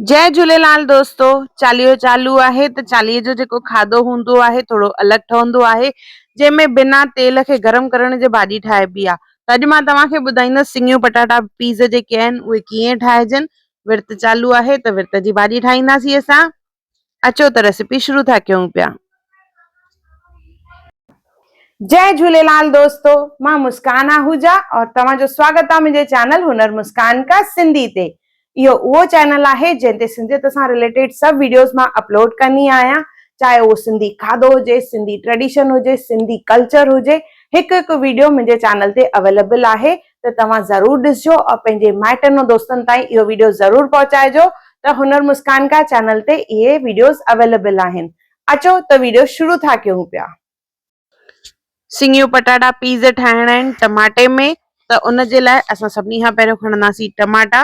جي جهوليلال دوستو چاليهو چالو آهي ته چاليهي جو جيڪو کاڌو هوندو آهي ٿورو الڳ ٺهندو آهي جنهن ۾ بنا تيل کي گرم ڪرڻ جي ڀاڄي ٺاهبي آ ته اڄ مان توهان کي ٻڌائيندس سنڱيون پٽاٽا پيز جيڪي آهن اهي ڪيئن ٺاهجن ورت چالو آهي ته ورت جي ڀاڄي ٺاهينداسين اسان اچو ته ريسيپي شروع ٿا ڪيون پيا. جئي جهوليلال دوستو مان مسڪان آهوجا اور توهان جو سواگت آ منهنجي چينل هنر مسڪان ڪا سنڌي تي اهو اهو چينل آهي جنهن تي سنڌيت سان رليٽيڊ سڀ ويڊيوز مان اپلوڊ ڪندي آهيان چاهي اهو سنڌي کاڌو هجي سنڌي ٽريڊيشن هجي سنڌي ڪلچر هجي هڪ هڪ ويڊيو منهنجي چينل تي اويليبل آهي ته توهان ضرور ڏسجو اور پنهنجي مائٽن ۽ دوستن تائين اهو ويڊيو ضرور پهچائجو ته هنر مسڪان ڪا چينل تي اهي ويڊيوز اويليبل آهن اچو ته ويڊيو شروع ٿا ڪيون پيا. سيڱيون پٽاٽا پيز ٺاهڻا آهن ٽماٽي ۾ ته ان جي لاء اسان سڀني کان پهريون کڻنداسين ٽماٽا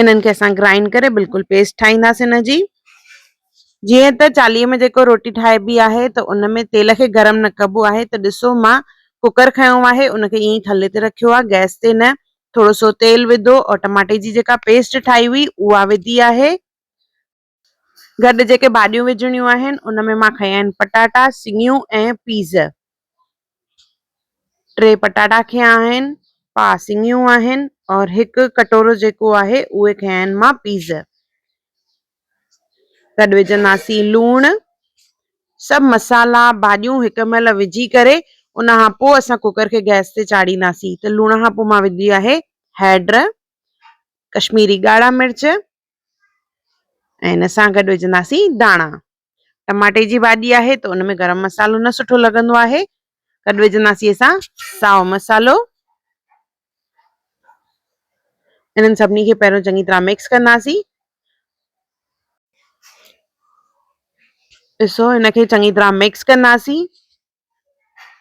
انهن کي اسان گرائنڊ ڪري بلڪل پيسٽ ٺاهينداسين ان جي جيئن ته چاليهه ۾ جيڪو روٽي ٺاهبي آهي ته ان ۾ تيل کي گرم نه ڪبو آهي ته ڏسو مان ڪوڪر کنيو آهي ان کي ائين ٿلهي تي رکيو آهي گئس تي نه ٿورو سو تيل وڌو ۽ ٽماٽي جي جيڪا پيسٽ ٺاهي هئي اها وڌي آهي گڏ جيڪي ڀاڄيون وجهڻيون آهن ان ۾ مان کنيا آهن پٽاٽا سڱيون ۽ پيز ٽي پٽاٽا کنيا آهن پا سڱيون آهن اور هڪ ڪٽورو جيڪو آهي اهي کنيا آهن مان پيز گڏ وجهنداسين لوڻ سڀ مسالا ڀاڄيون هڪ مهل وجهي ڪري ان کان پوء اسان ڪوڪر کي گئس تي چاڙهينداسين ته لوڻ کان پوء مان وجهي آهي هيڊ ڪشميري ڳاڙها مرچ ۽ ان سان گڏ وجهنداسين داڻا ٽماٽي جي ڀاڄي آهي ته ان ۾ گرم مصالحو نه سٺو لڳندو آهي گڏ وجهنداسين اسان ساو مصالحو انهن سڀني کي پهريون چڱي طرح مڪس ڪنداسين ڏسو هن کي چڱي طرح مڪس ڪنداسين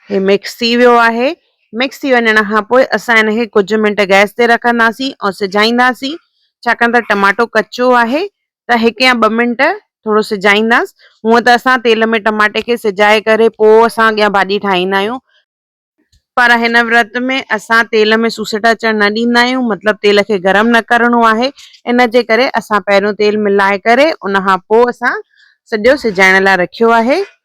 هي مڪس ٿي ويو آهي مڪس ٿي وڃڻ کان پوء اسان ان کي ڪجهه منٽ گئس تي رکنداسين ۽ سجائينداسين ڇاڪاڻ ته ٽماٽو ڪچو آهي ته هڪ يا ٻه منٽ ٿورو سجائينداس هونء ته اسان تيل ۾ ٽماٽي کي سجائي ڪري پوء اسان اڳيان ڀاڄي ٺاهيندا آهيون پر هن ورت ۾ اسان تيل ۾ سوسٽ اچڻ نه ڏيندا آهيون مطلب تيل کي گرم نه ڪرڻو آهي ان جي ڪري اسان پهريون تيل ملائي ڪري ان کان پوء اسان سڄو سجائڻ لاء رکيو آهي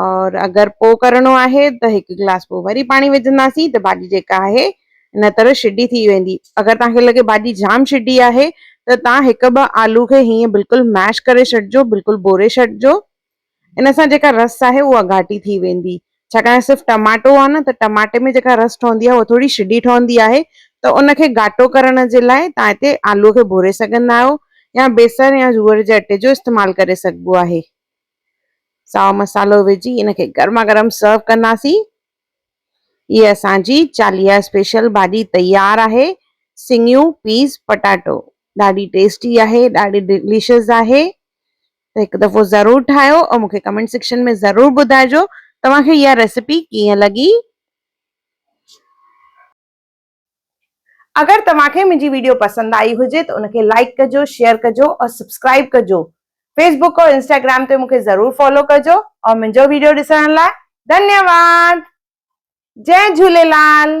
اور اگر پوء ڪرڻو آهي ته هڪ گلاس پوء وري پاڻي وجهنداسين ته ڀاڄي جيڪا آهي ان طرح شڊي ٿي ويندي. اگر توهان کي لڳي ڀاڄي جام شڊي آهي ته توهان هڪ ٻه آلو کي هيئن بلڪل ميش ڪري ڇڏجو بلڪل ٻوري ڇڏجو ان سان جيڪا رس آهي اها گهاٽي ٿي ويندي ڇاڪاڻ صرف ٽماٽو آهي نه ته ٽماٽي ۾ جيڪا رس ٺهندي آهي اها ٿوري شڊي ٺهندي آهي ته ان کي گهاٽو ڪرڻ جي لاء توهان هتي آلو کي ڀوري سگهندا آهيو يا بيسڻ يا جوئر جي اٽي جو استعمال ڪري سگهبو آهي. سائو مصالحو وجهي ان کي گرما گرم سرو ڪنداسين. هي اسان جي چاليهه اسپيشل ڀاڄي تيار آهي سڱيون پيس پٽاٽو ڏاڍي ٽيسٽي آهي ڏاڍي ڊليشس آهي ته هڪ دفعو ضرور ٺاهيو ۽ مونکي ڪمينٽ سيڪشن ۾ ضرور ٻڌائجو توهان کي اها ريسيپي ڪيئن لڳي. اگر توهان کي منهنجي ويڊيو پسند آئي هجي ته ان کي لائڪ ڪجو شيئر ڪجو اور سبسڪرائب ڪجو فيس بوڪ اور انسٽاگرام تي مون کي ضرور فالو ڪجو اور منهنجو ويڊيو ڏسڻ لاء ڌنيواد جئ جهوليلال.